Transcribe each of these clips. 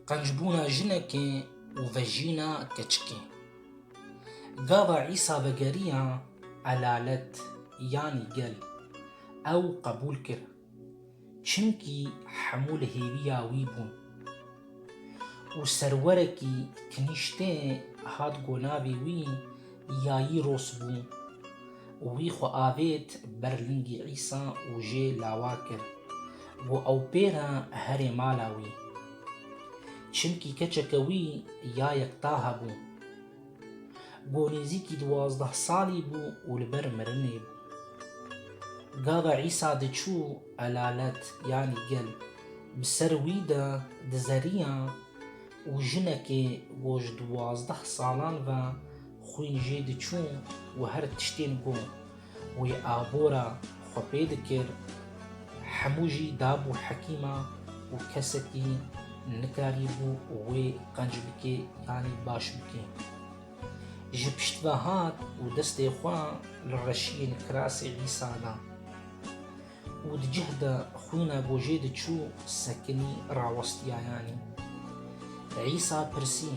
Qencbûna jinekê û vejîna keçikê. Gava Îsa vegeriya elalet yanî gel ew qebûl kir. Çimkî hemû li hêviya wî bûn. û serwerekî kinîştê hat ku navê wî Yayîros bû û wî xwe avêt ber lingî Îsa û jê lawa kir ku ew pêre herê mala wî. Çimkî keçeke wî ya yektahe bû. Ku nêzîkî duwazdeh salî bû û li ber mirinê bû. Gava Îsa diçû elalet yanî gel bi ser wî de dizeriya û jinekê ku ji duwazdeh salan ve xwîn jê diçû û her tiştên ku Wê abora xwe pê dikir, hemû jî dabû hekîma û kesekî nikarîbû wê qenc bikê yanî baş bikê. Ji pişt ve hat û destê xwe li reşiyên kirasê Îsa da. û di cih de xwîna gojê diçû sekinî rawestiyayanî. Li Îsa pirsî,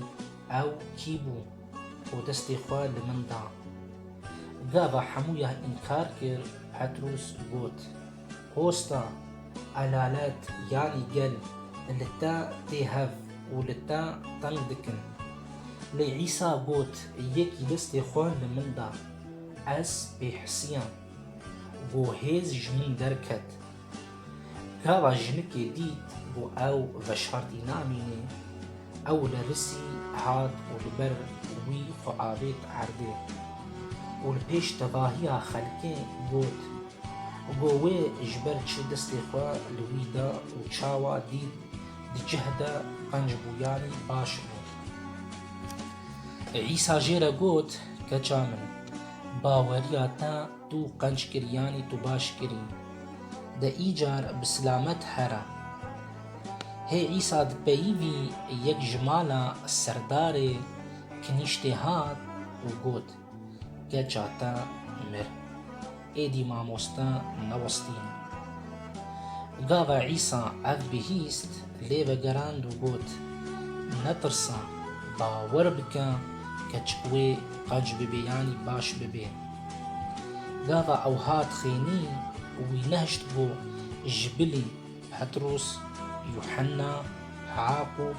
Ew kî bû? û destê xwe li min da. Gava hemû ya înkar kir, Petrûs got, Hosta, elalet yanî gel li te tê hev û li te teng dikin. Lê Îsa got, Yekî destê xwe li min da, ez pê hisiya. Ku hêz ji min derket. Gava jinikê dît ku ew veşartî namîne, ew li risî hat û li ber wî xwe avêt erdê û li pêş tevahiya xelkê got ku wê ji ber çi destê xwe li wî da û çawa dît di cih de qenc bûyanî baş bû. Îsa jê re got, Keça min! Baweriya te tu qenc kir yanî tu baş kirî. De îcar bi silamet here. Hê Îsa di peyîvî yek ji mala serdarê kinîştê hat û got, Keça te mir. Êdî mamoste newestîn. Gava Îsa ev bihîst, lê vegerand û got, Netirsa, bawer bike keç wê qaj bibe yanî baş bibe. Gava ew hat xênî û wî nehişt bo ji bilî Petros, Yuhenna, Yaqûb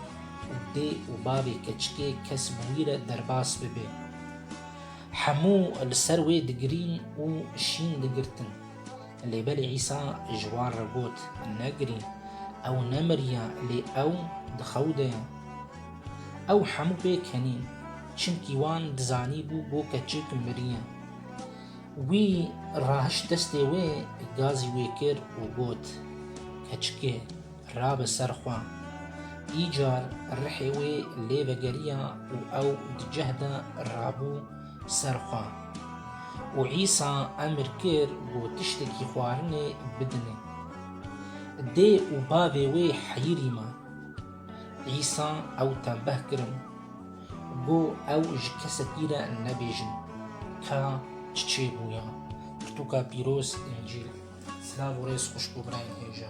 û dê û bavê keçikê kes bi wî re derbas bibe. Hemû li ser wê digirîn û şîn digirtin. Lê belê Îsa ji wan re got, Negirî, ew nemiriye, lê ew di xew de ye. Ew hemû pê kenî, çimkî wan dizanîbû ku keçik miriye. Wî rahişt destê wê, gazî wê kir û got, Keçikê, rabe ser xwe. Îcar rihê wê lê vegeriya û ew di cih de rabû. ser xwe û Îsa emr kir ku tiştekî xwarinê bidine. Dê û bavê wê heyirî man. Îsa ew tembeh kirin ku ew ji kesekî re nebêjin ka çi çêbûya. Pirtûka pîroz Încîl. Silav û rêz xweş bo birayên hêja.